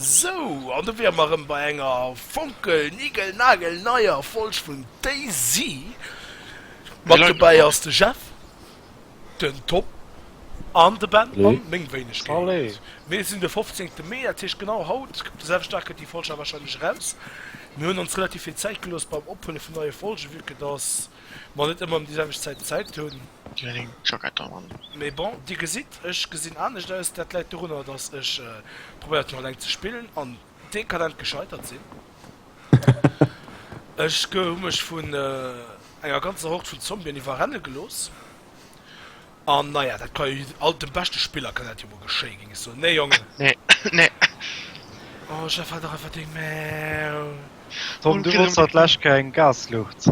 Sou, an do wiere mer erëm bei enger fonkelnigelnagelneier Folg vun Daisy. Mat dobäi ass de Jeff, den Tom an de Ben an meng Wéinegkeet. Mir sinn de fofzéngte Mee, dat heescht genau haut, op de selwechten Dag kënnt déi Folg awer warscheinlech eraus. Mir hunn ons relativ vill Zäit gelooss beim Ophuele vun neie Folgen, vu que dass mer net ëmmer ëm déi selwecht Zäit Zäit hunn. Déi hunn eng Jackett an an. Mee bon, dir gesitt, ech gesinn anescht aus. Dat läit dorunner, datt ech probéiert hunn eleng ze spillen an dekadent gescheitert sinn. Ech ge hu mech vun enger ganzer Hord vun Zombien iwwerrenne gelooss. An naja, dat ka jo jid alt dem beschte Spiller kann dat jo mol geschéien, géing ech soen, nee Jongen? Nee, nee. Oh, Jeff, halt dach einfach deng Maul! Tom, du wollts haut lech keng Gasluucht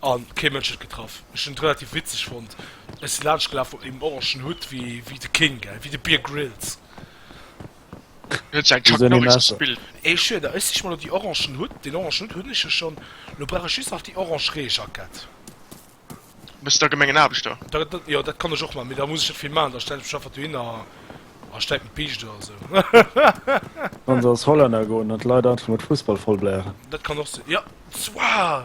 An kee Mënsch huet getraff. Ech hunn et relativ witzeg fonnt. Ech si laanscht gelaf mat mengem orangen Hutt wéi de King, gell, wéi de Bear Grylls. Du hues eng Chuck Norris gespillt. Et schiet der, ech sich mer elo déi orangen Hutt. Deen orangen Hutt hunn ech jo schonn. Elo brauch ech just nach déi orange Reejackett. Bass da Gemengenaarbechter? Jo, dat kann ech och maachen, mee da muss ech net vill maachen. Da stelle ech mech einfach dohinner a stäipe en Piicht oder esou. Kann se als Hollänner goen an d'Leit einfach mat Fussball vollblären. Dat kann och sinn, jo. Wow!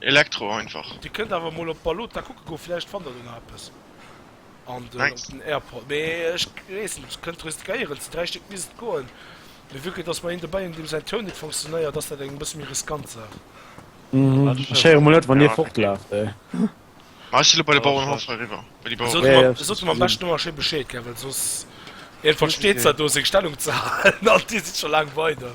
Elektro einfach. Dir kënnt awer mol op Balota kucke goen, vläicht fannt der do nach eppes. An de op den Airport, mee ech weess net, kënnt riskéieren, zu 3 Stéck misst et goen. Mee vu que dass mer een dobäi hunn, deem säin Toun net funktionéiert, ass dat eng e bësse méi riskant Saach. Ech héieren mol net wann dir fortlaaft hei. Ma ech si lo bei de Bauerenhaff eriwwer, bei déi Baueren. Sot mer, sot mer am beschten ëmmer schéi Bescheed, gell, well soss een versteet zwar do seng Stellung ze halen an dir sidd scho laang weider.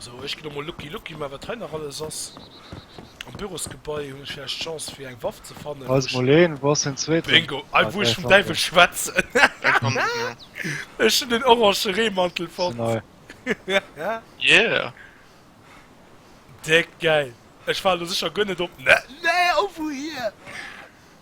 Sou, ech ginn elo mol Lucky Lucky, mä wat hei nach alles ass. Am Bürosgebai hunn ech vläicht Chance fir eng Waff ze fannen, wou ech. Bingo! Hei wou ech vum Däiwel schwätzen. Ech hunn den orange Reemantel fonnt. Déck gäil! Ech war elo sécher guer net op. Nee, nee, oh wouhier?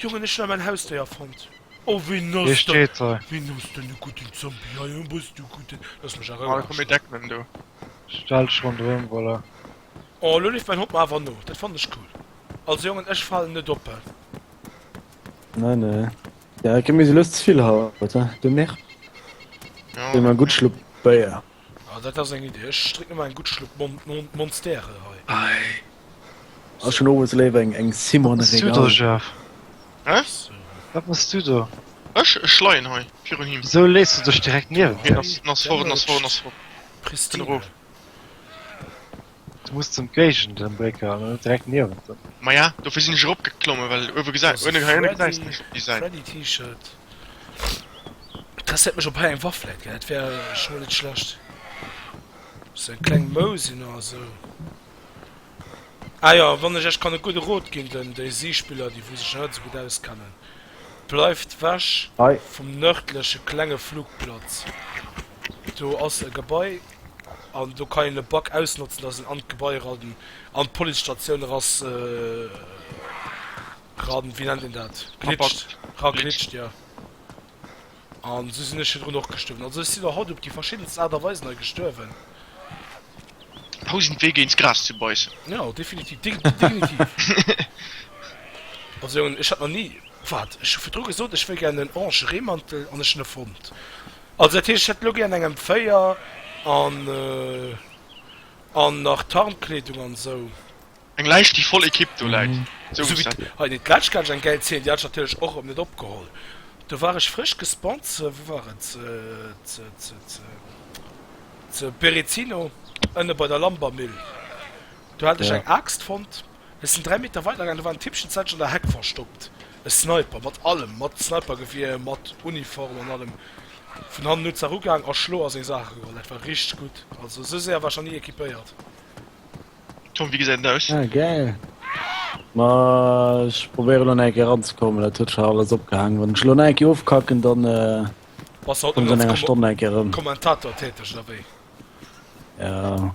Jongen ech hun awer en Hausdéier fond. Oh wéi nass de wéi nass den e gudden Zombie hei oh bass du gudden lass mech a Rouh Ech hu méi deck Mënn do. Stell dech rondrëm voilà. Oh lo leeft mäin Hond mer awer no dat fannen ech cool also Jongen ech falen net oppe. Nei nei ja ké mir si lous zevill haut he du nervt. Hu mer gudd Schlupp Béier. Ah dat ass eng Idee, ech drécken mer eng gutt Schlupp Monstère hei. Ass schon owes léiwer eng eng Simone Régal. Wat machs du do? Ech? Ech leien hei virun him. Wisou lees du dech direkt niewent him? Hien ass fort, hien ass fort, hien ass fort. Pristine. Du muss zum Géigend em Brécker an dann net direkt niewent em. Maja dofir sinn ech erop geklommen well uewe gesäit uewe gesäis nech déi Säit. Freddy T-Shirt interesséiert mech op hei eng Waff läit, dat wär scho mol net schlecht, sou eng kleng Mousin oder sou. Ah jo, wann ech iech kann e gudde Rot ginn, den déi si Spiller déi wou sech nach net esou gutt auskennen, bleift wech vum nërdleche klenge Flugplatz, do ass e Gebai. An do kann een e Bug ausnotzen, dass en an d'Gebai eran, an d'Policestatioun erass, eran, wéi nennt een dat, glitscht, eraglitscht, jo. An esou sinn ech virdrun och gestuerwen. Also ech sinn der haut op déi verschiddenst Aart a Weisen hei gestuerwen. Tausend Wee géint d'Gras ze beissen. Jo, definitiv, definitiv. Also Jongen, ech hat nach ni, waart, ech hu virdru gesot, ech wëll gären en orange Reemantel, an ech hunn e fonnt. Also dat heescht, ech hätt elo gär an engem Véier an an nach Tarnkleedung an esou. Eng Läischt déi voll Equipe do läit, esou muss dat sinn. Hei den d'Lätsch hat ech eng gäil Zeen, déi hat ech natierlech och op net opgeholl. Do war ech frësch gespawnt ze, wou war et, ze ze ze ze ze Berezino ënne bei der Lambermüll, do hat ech eng Aaxt fonnt. Ech sin 3 Meter weider gaang, do war en Tippchen zäitlich an der Heck verstoppt, e Sniper mat allem, mat Snipergewier, mat Uniform an allem, vun hannen no d'Sach ugaang a Schlo a seng Saache geholl, dat war richteg gudd, also esou séier war ech nach ni equipéiert. Tom wéi gesäit en aus? Ah gäil! Ma ech probéieren elo nach eng Kéier eranzekommen, dat huet scho alles opgehaangen. Wann ech elo nach eng Kéier ofkacken, dann kommen se an enger Stonn nach eng Kéier erëm. Bass du haut nach als Kommentator täteg oder wéi? Jo.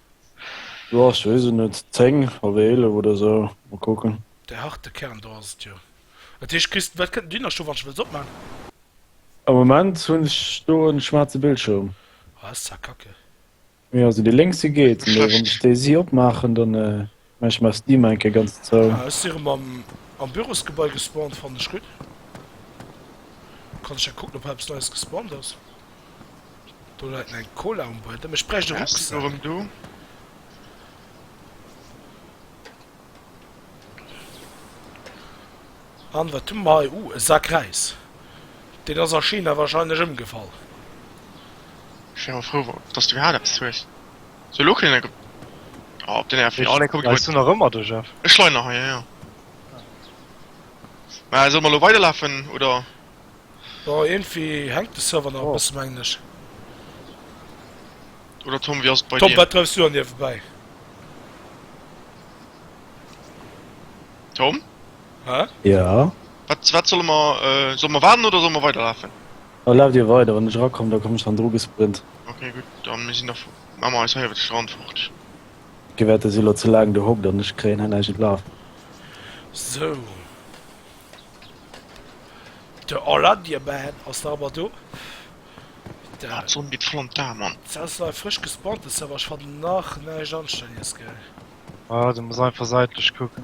Boah, ech wees et net, 10 oder 11 oder sou, mol kucken. Dei harte Kern do ass et jo. Dat heescht kriss de wat kënnt den Dynascht do wann ech wëlls opman? Am Moment hun ech do en schwarze Bildschirm. Ah, dat ass zwar kacke. Jo, also dei lénkse geet, mee wann ech dei si opmaachen dann. Mä ech maache Steam eng Kéier ganz zou. Ah, ech si rëm am, am Bürosgebai gespawnt. Fannen ech gutt. Kann ech da kucken, ob eppes Neies gespawnt ass? Do läit eng Cola um Buedem. Ech bräicht e Rucksak. Ech si lo rëm do. An wat hu mer hei? Uh, e Sak Räis. Deen ass a China warscheinlech ëmgefall. Ech wier awer frou, datt s du iwwerhaapt eppes hues. So lo kënnen eng. Oh op den F4 aleng kuckt Weißt du nach ëmmer de Jeff? Ech leien nach hei jo. Mä solle mer lo weiderlafen oder? Boah irgendwie hänkt de Server nach e bëssen mengen ech. Oder Tom wéi ass et bei dir? Tom wat dreifs du an dir vorbäi? Tom? Hä? Ja? Wat wat solle mer solle mer waarden oder solle mer weiderlafen? Dann laaft dir weider, wann ech erakomm da komm ech dann dru gesprint. Ok gudd, dann mir sin nach emmer eis heier iwwert de Strand fort. Ok waart, da si lo ze laang do hockt an ech kréien hei näischt un d'Laf. Sou, de Orlandiaman ass nach emmer do. Aah d'Sonn geet voll an d'Aa Mann. Sou ass nach e frësch gespawnte Server, ech fannen nach näischt anstännjes geil. Aah du muss einfach seitlech kucken.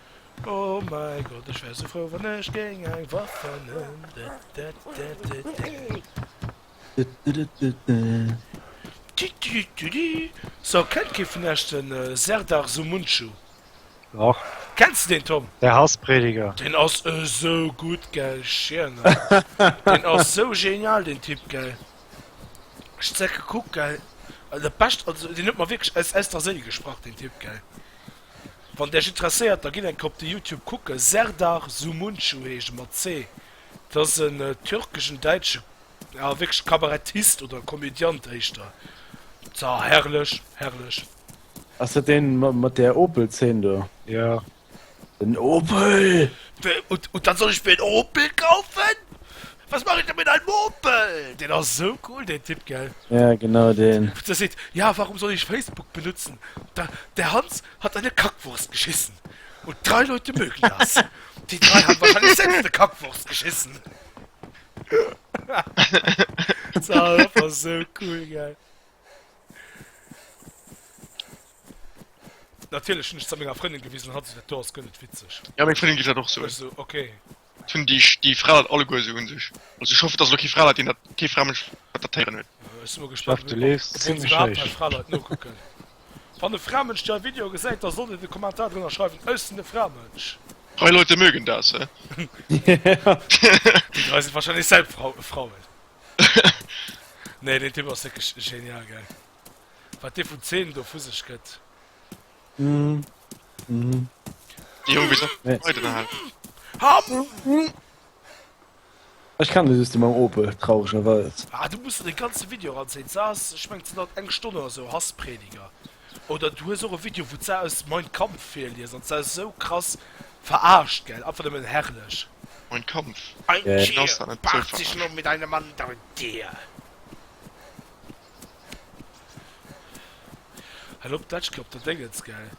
Oh mein Gott, ech wär sou frou wann ech géing eng Waff fannen. So kennt kee vun Iech den Serdar Sumuncu? Doch. Kenns de deen Tom? De Hassprediger. Deen ass esou gutt gell, Schierner. Deen ass sou genial deen Typ gell. Ech zeck gekuckt gell, dat bescht, also deen huet mer wierklech aus aus der Séil gesprach deen Typ gell. Wann der iech interesséiert da gitt eng Kéier op de Youtube kucken, Serdar Sumuncu heescht e mat ce, dat ass en türkeschen, däitsche, ja wierklech Kabarettist oder Komödiant éischter, sa herrlech, herrlech. Ass dat deen mat der Opel Zeen do? Jo. Den Opel! Wat soll ech mir en Opel kaufen? Was mach ich denn mit dein Mopel? Den ass sou cool den Typ, gell? Ja genau den. Der seet, ja warum soll ich Facebook benutzen? Da der Hans hat eine Kackwurst geschissen und drei Leute mögen das. Die drei haben wahrscheinlich selbst eine Kackwurst geschissen. Dat war sou cool, gell? Natierlech hunn ech et menger Frëndin gewisen an hat esou gesot, jo ass guer net witzeg. Ja meng Frëndin geet dat och sou. Ech sou, okay. Et hunn déi, déi Fra dat alleguer esou un sech. Also ech hoffen, dass elo kee Fraleit, deen dat, kee Framënsch wat dat héieren huet. Ech si mol gespaant, Jeff, du leefs ob ons zimmlech iwwerhaapt héich. nei Fraleit nokucken. Wann e Framënsch dei Video gesäit, da sollt en e Kommentar drënner schreiwen, Äussende Framënsch. Freie Leute mögen das, he? Déi dräi si wahrscheinlech selb Frau, Frauen. Nee, deen Typ ass wierklech genial, gell, wat dee vun Zeen do vu sech gëtt. Mm. Mm. Die Jung wieso nee. Ech kann de System am Opel trauregen Wald. Ah, du muss de ganze Video ansinn sass ech mengg ze dat eng Stonne oder sou Hassprediger. Oder du hues och e Video wou ze auss mein Kampf fir lies an ze sou krass verarscht gell einfach nëmmen herrlech. Mein Kampf Ein yeah. Tier paart sich nur mit einem anderen Tier. Hei lo Plätschke op der Déngens, gell?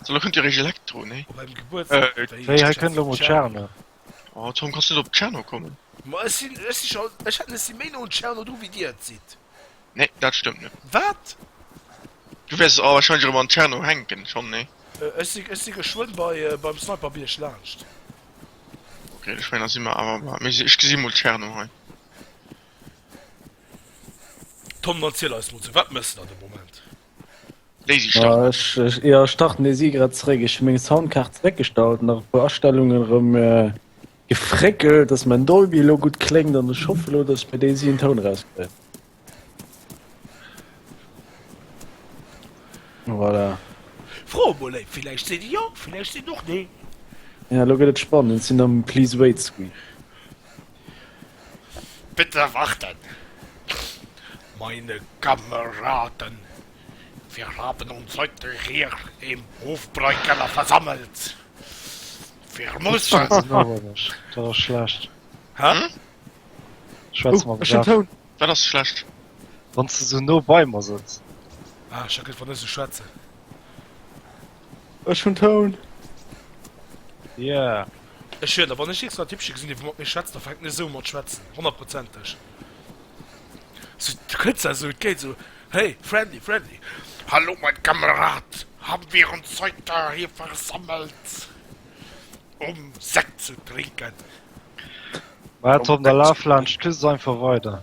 Sou, lo kënnt jo réischt Elektro, nee? Oh, beim Gebuertstag, Äh, wéi Wéi, hei kënnt lo mol Tscherno. Oh, Tom, kanns net op Tscherno kommen? Ma ech sinn, ech si scho, ech hat, ech si méi no un Tscherno dru wéi Dir et sidd. Nee, dat stëmmt net. Wat? Du wäers awer warscheinlech erëm an Tscherno hänken, schonn, nee? Äh, ech si, ech si geschwënn bei, beim Sniperbierg laanscht. Okay, ech mengen, da si mer awer, ma, mir si, ech gesi mol Tscherno hei. Tom dann ziel eis mol zu wat mëssen an de Moment. Eier starten e si grad zréck ech meng Soundkaart weggestalt nach puer Astellungen rëm äh, gefréckelt, dats mein Dolby lo gutt kléngt an ech hoffe lo, dats mir déi si en Toun rauskréien. Voilà. Fro mol léif, villäicht seet Dir jo, villäicht seet och nee. Ja, lo gëtt et spannend, sinn am Please wait screen. Bitte warten, meine Kameraden, wir haben uns heute hier im Hofbräukeller versammelt. Wir müssen. Dat ass schlecht. Hä? Schwätz mal den Ton. Dat ass schlecht. Wann s de sou no bei mer sëtz. Ah, ech hat gëtt wann ech sou schwätzen. Ech hun Toun! Yeah! Ech wier der, wann ech iergst en Typche gesinn, dee wou mat mir schwätzt, da fänken ech esou u mat schwätzen, honnertprozenteg. Sou, du kënns da esou, et geet esou, hey, friendly, friendly. Hallo, mein Kamerad! Haben wir uns heute hier versammelt, um Sekt zu trinken? Wat, Tom, da laf laanscht d'Küst einfach weider.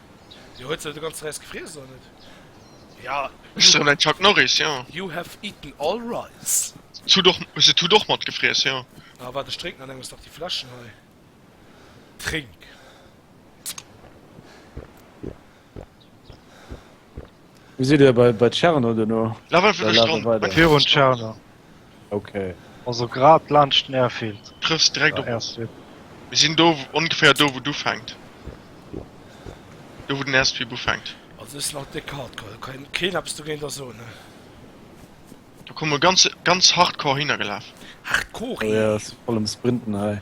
Jo huet se de ganze Räis gefriess oder net? Ja. Ech soen eng Chuck Norris, jo. You have eaten all rice. S'hutt och, se hutt och mat gefriess, jo. Ah waart ech drénken an engems nach déi Fläschen hei. Trénk. Wéi sidd dir bei, bei Tscherno duerno? Level vun der Stonn, mat Virun Tscherno. Okay. Also grad laanscht den Airfield. Trëffs direkt op. Mir sinn do, ongeféier do wou et ufänkt. Do wou den Airstrip ufänkt. Also ass nach déck Hardcore, do kann keen eppes dogéint da soen ne. Do komme ganz, ganz hardcore hinner gelaf. Hardcore? Jo, jo, ass voll am Sprinten hei.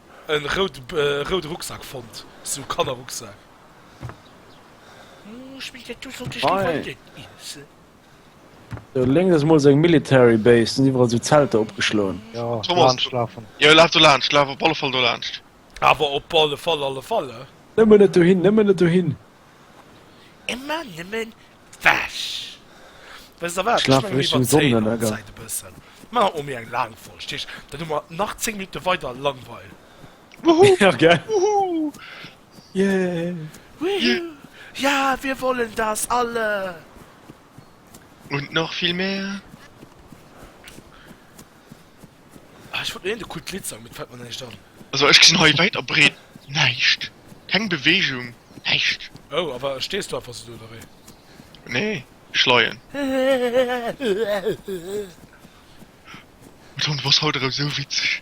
En rouden Rucksack fonnt, sou Kannerrucksack. Lénks ass mol seng Military Base, sinn iwwerall sou Zelter opgeschloen. Jo laf do laanscht, laf op alle Fall do laanscht. Awer op alle Fall, alle Fall, eh? Nëmmen net dohin, nëmmen net dohin! Emmer nemmen wech. Wes der wat, ech mengen mir iwwerzéien an Zäit e bëssen. Mer hu mir eng laang Folg, Tisch, dann hu mer nach 10 Minutte weider Langweil. Wuhuu! Ja gell! Wuhuu! Yeah! Ja, wir wollen das alle! Und noch viel mehr! Ah, ech wollt lo eent e coolt Lidd sang, mee et fällt mer näischt an. Also ech gesinn hei wäit a breet näischt. Keng Beweegung, näischt. Oh, awer stees du einfach sou do, oder wéi? Nee, ech leien. Antoine, du bass haut erëm sou witzeg.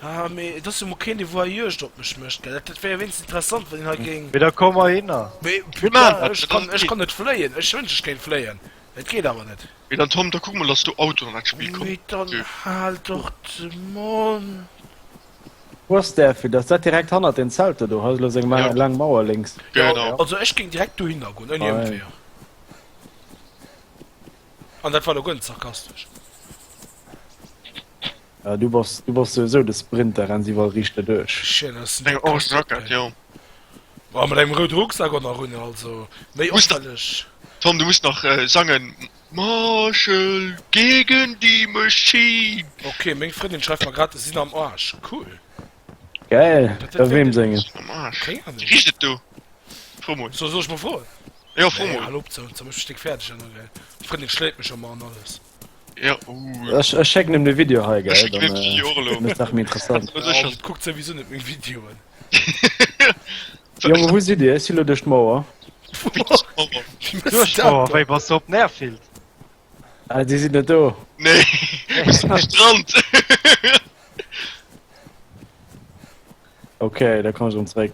Ah, mee et ass jo mol keen, dee wuer Juegd op mech mécht, gell? Dat wär jo wéinstens interessant, wann een hei géing. Mee da komm ahinner. Mee putain, ech kann net fléien. Ech wënsch, ech kéint fléien, et geet awer net. Mee dann Tom, da kuck mol dass du Auto an dat Spill kommt. Mee dann haal doch de Mond. Wou ass där Villa? Ass dat direkt hannert den Zelter do? Hei ass elo seng laang Mauer lénks. Genau. Also ech géing direkt dohinner goen, ouni Ëmweeër. An dat war elo guer net sarkastesch. Ah du bass du bass souwisou de Sprinter, renns iwwerall riicht derduerch. Shit ass den Deng orange Jacket ey. Jo. Boah mat engem roude Rucksack och nach un also méi opfälleg. Tom du muss nach sangen Marshall gegen die Machine. Ok meng Frëndin schreift mer grad sinn am Arsch cool. Geil da weem sengen? Sinn am Arsch Keng Ahnung. Wéi richt et do? Fro mol. Soll ech mol froen? Jo fro mol. Hal op, mech e Stéck fäerdeg ënner gell. Frëndin schléit mech ëmmer an alles. Ja, uh. Ech, ech schécken em de Video hei, gell? Dann äh, nach mir interessant. guckt sowieso net meng Videoen. Junge, wo si Dir? Si lo duerch d'Mauer? Duerch d'Mauer, wéi was du op den Airfield? Ah, Dir sidd net do. Nee, Strand. okay, da kann ech um zréck.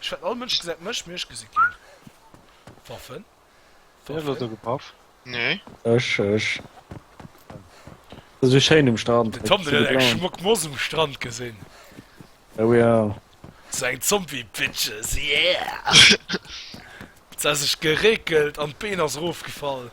Ech fennt all Mënschen säit Mësch Miersch gesi ginn. Waffen? Wee huet do gepaff? Nee. Ech, ech. Et ass esou schéin um Strand. Den Tom den huet eng schmock Moss um Strand gesinn. Oh ja. Sou eng Zombie Bitches, yeah! Se hat sech gereekelt an d'Been ass erof gefall.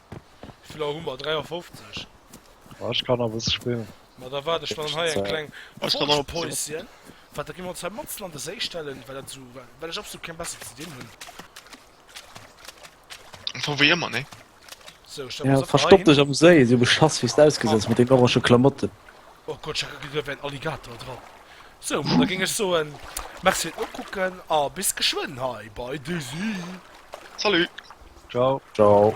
Wéiviler hu mer? 53? Boah, ech kann a bësse spillen. Ma da waart ech dann hei eng kleng Pausien. Wat, da gi mer ons hei matsen an de Séi stellen, well dat esou, well ech absolut keng besser ze dinn hunn. Vu wéi ëmmer, nee? So, stelle mer ons einfach hei Verstopp hin. dech am Séi, esou beschass wéi s de ausgesäis mat deenen orange Klamotten. Oh Gott, ech hätt grad en Alligator dran. So, da géing ech soen, merci fir d'Nokucken a bis geschwënn hei bei de Séi. Salut! Ciao. Ciao.